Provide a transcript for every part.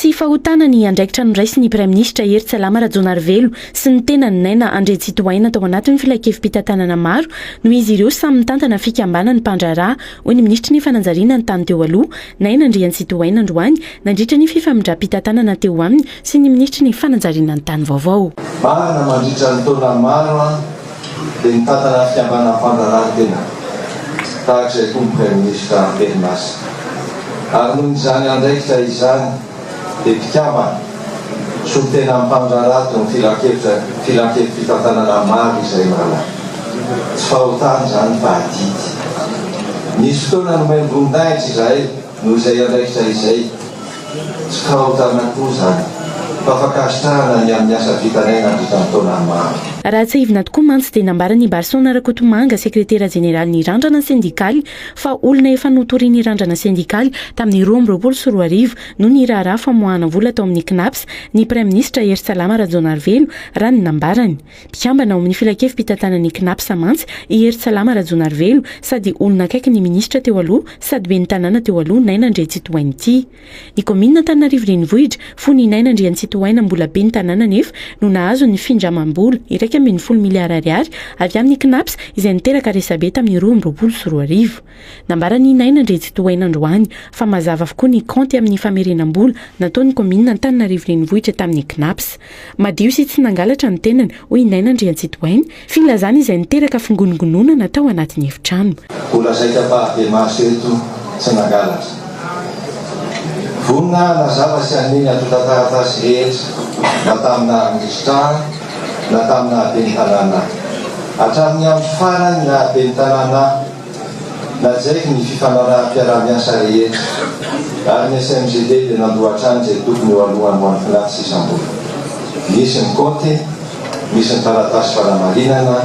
Tsy fahotana ny andraikitra noraisin' ny Praiminisitra Hery Tsalama Rajaonarivelo sy ny tenany Naina Andriantsitohaina tao anatin' ny filankevim-pitantanana maro noho izy ireo samy mitantana fikambanany mpandraharaha, hoy ny Minisitry ny Fananjariana ny tany teo aloha, Naina Andriantsitohaina androany nandritra ny fifamindram-pitantanana teo aminy sy ny Minisitry ny Fananjariana ny tany vaovao. Marina mandritra ny taona maro an! Dia mitantana fikambanan'ny fandraharahantena tahaka izay koa ny Praiminisitra am-perinasa. Ary noho izany andraikitra izany dia mpikambana solontena mpandraharato ny filankevitra filankevi-pitantanana maro izay manana. Tsy fahotana izany fa adidy. Nisy fotoana nomeny voninahitra izahay. Noho izay andraikitra izay, tsy fahotana koa izany, fa fankasitrahana ny amin'ny asa vitanay nandritra ny taona maro. Raha tsiahivina tokoa mantsy dia nambaran'i Barson Rakotomanga, sekretera jeneralin'ny Randrana sendikaly, fa olona efa notorian'ny Randrana sendikaly tamin'ny roa amby roapolo sy roa arivo noho ny raharaha famoahana vola tao amin'ny Cnaps ny praiminisitra Hery Salama Rajaonarivelo, raha ny nambarany. Mpikambana ao amin'ny filankevi-pitantanan'ny Cnaps mantsy i Hery Salama Rajaonarivelo, sady olona akaiky ny minisitra teo aloha sady ben'ny tanàna teo aloha Naina Andriantsitohaina ity. Ny kaominina Antananarivo Renivohitra fony i Naina Andriantsitohaina mbola ben'ny tanàna anefa no nahazo ny findramam-bola iraika ambin'ny folo miliara ariary avy amin'ny Cnaps izay niteraka resabe tamin'ny roa amby roapolo sy roa arivo. Nambaran'i Naina Andriantsitohaina androany fa mazava avokoa ny kaonty amin'ny famerenam-bola nataon'ny kaominina Antananarivo Renivohitra tamin'ny Cnaps. Madio sy tsy nangalatra ny tenany, hoy i Naina Andriantsitohaina, filazana izay niteraka fingonongononana tao anatin'ny efitrano. Mbola zaika bavy maso eto tsy nangalatra. Vonona hanazava sy haneho ny antontan-taratasy rehetra na taminà risitrahana na taminà ben'ny tanàna. Hatramin'ny amin'ny farany na ben'ny tanàna. Najaiko ny fifanaraham-piarahamiasa rehetra, ary ny SMGD dia nandoa hatrany izay tokony ho aloany ho an'ny FNAC sy isam-bola. Nisy ny kaonty, misy ny taratasy fanamarinana,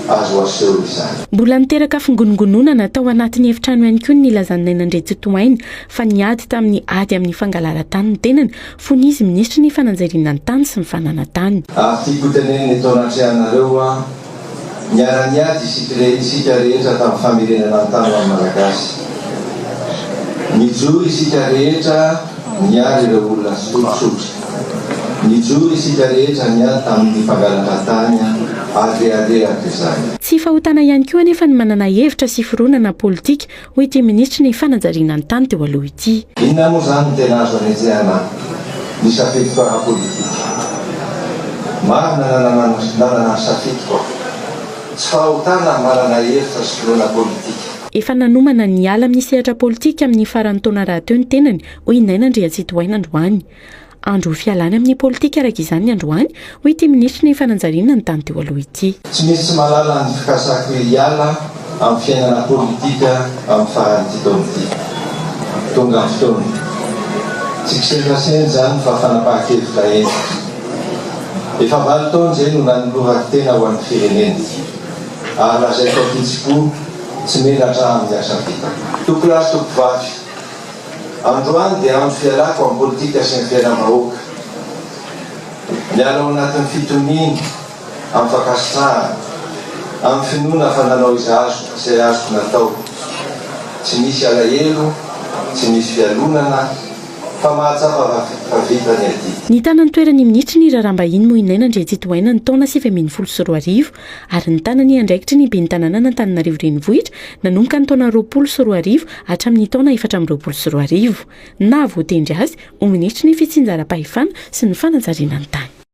azo aseho izany. Mbola niteraka fingonongononana tao anatin'ny efitrano ihany koa ny nilazan'i Naina Andriantsitohaina fa niady tamin'ny ady amin'ny fangalaran-tany ny tenany fony izy minisitry ny fananjariana ny tany sy ny fananantany. Ary tiako hotenenina eto anatrehanareo an! Niara-niady isika re, isika rehetra tamin'ny famerenana ny tany ho an'ny Malagasy. Nijoro isika rehetra niaro ireo olona tsotsotra. Nijoro isika rehetra niady tamin'ny mpangalatra tany ary reharehako izany. Tsy fahotana ihany koa anefa ny manana hevitra sy fironana politika Hoy ity minisitry ny fanajariana ny tany teo aloha ity. Inona moa izany no tena azo anetsehana ny safidiko ara-politika? Marina nanana ny safidiko aho. Tsy fahotana ny manana hevitra sy finoana politika. Efa nanomana ny hiala amin'ny sehatra politika amin'ny faran'ny taona rahateo ny tenany, hoy i Naina Andriantsitohaina androany. Andro fialana amin'ny politika araka izany ny androany, hoy ity minisitry ny Fananjariana ny tany teo aloha ity. Tsy misy tsy mahalala an'i Fikasako hoe hiala amin'ny fiainana politika amin'ny faran'ity taona ity. Tonga ny fotoana. Tsy kisendrasendra izany fa fanapahan-kevitra hentitra. Efa valo taona izay no nanolorako tena ho an'ny firenena. Ary lazaiko ankitsipo, tsy menatra amin'ny asa vita. Tompolahy sy tompovavy, Androany dia andro fialako amin'ny politika sy ny fiainam-bahoaka. Miala ao anatin'ny fitoniana amin'ny fankasitrahana, amin'ny finoana fa nanao izay azoko izay azoko natao. Tsy misy alahelo, tsy misy fialonana fa mahatsapa fa vita ny ady. Nitana ny toeran'ny minisitry ny raharaham-bahiny Moinaina Andriantsitohaina ny taona sivy ambin'ny folo sy roa arivo ary nitana ny andraikitry ny Ben'ny Tanànan'Antananarivo Renivohitra nanomboka ny taona roapolo sy roa arivo hatramin'ny taona efatra amby roapolo sy roa arivo. Naha-voatendry azy ho Minisitry ny Fitsinjaram-pahefana sy ny Fanajariana ny Tany.